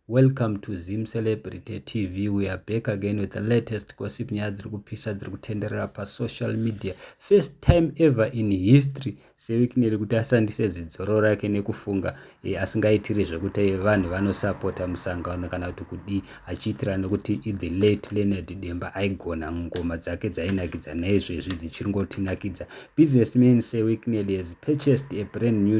Welcome to Zim Celebrity TV. We are back again with the latest gossip nyaya dziri kupisa dziri kutenderera pasocial media. First time ever in history sewikineri kuti asandise zidzoro rake nekufunga e, asingaitiri zvekuti eh, vanhu vanosapota musangano kana kuti kudii achiitira nekuti ithe late leonard demba aigona ngoma dzake dzainakidza naizvezvi dzichiri ngotinakidza businessman sewikineri has purchased a brand new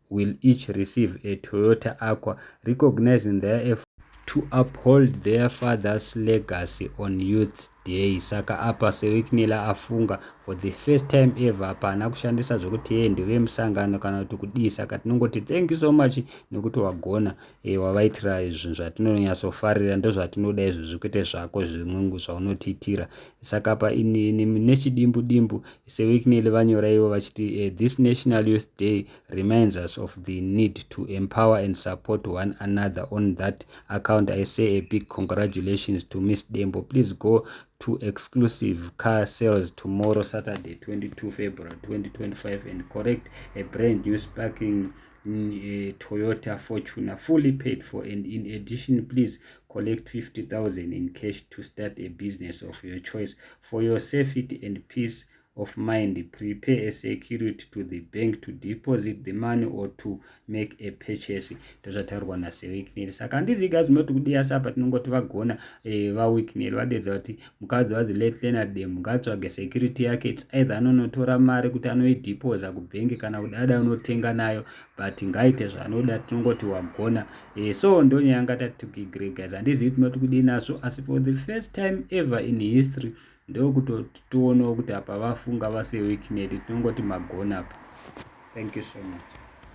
will each receive a Toyota Aqua recognizing their effort to uphold their father's legacy on Youth Day. Saka apa seWicknell afunga for the first time ever apa haana kushandisa zvekuti yeye ndeve musangano kana kuti kudii saka tinongoti thank you so much nekuti wagona e, wavaitira zvinhu zvatinonyatsofarira ndozvatinoda izvozvi kwete zvako zvimwengu zvaunotiitira saka pa nechidimbu dimbu sewicknel vanyora ivo vachiti e, this national youth day reminds us of the need to empower and support one another on that account i say a big congratulations to miss dembo please go to exclusive car sales tomorrow saturday 22 february 2025 and correct a brand new sparking mm, a Toyota Fortuner fully paid for and in addition please collect 50,000 in cash to start a business of your choice for your safety and peace of mind prepare a security to the bank to deposit the money or to make a purchase ndozvataurwa nasewekineri saka handiziga zvimoti kudiyasapa tinongoti vagona e, eh, vawikineri vadedza kuti mukadzi was late leonard demu ngaatsvage security yake its either anonotora mari kuti anoideposa kubhengi kana kuti ada unotenga nayo but ngaite zvaanoda tinongoti wagona e, so ndonyaya yanga tatikigregas handizivi kuti noti kudii nazvo asi for the first time ever in history ndokutotionawo kuti apa vafunga vaseweekned tinongoti magona apa thank you so much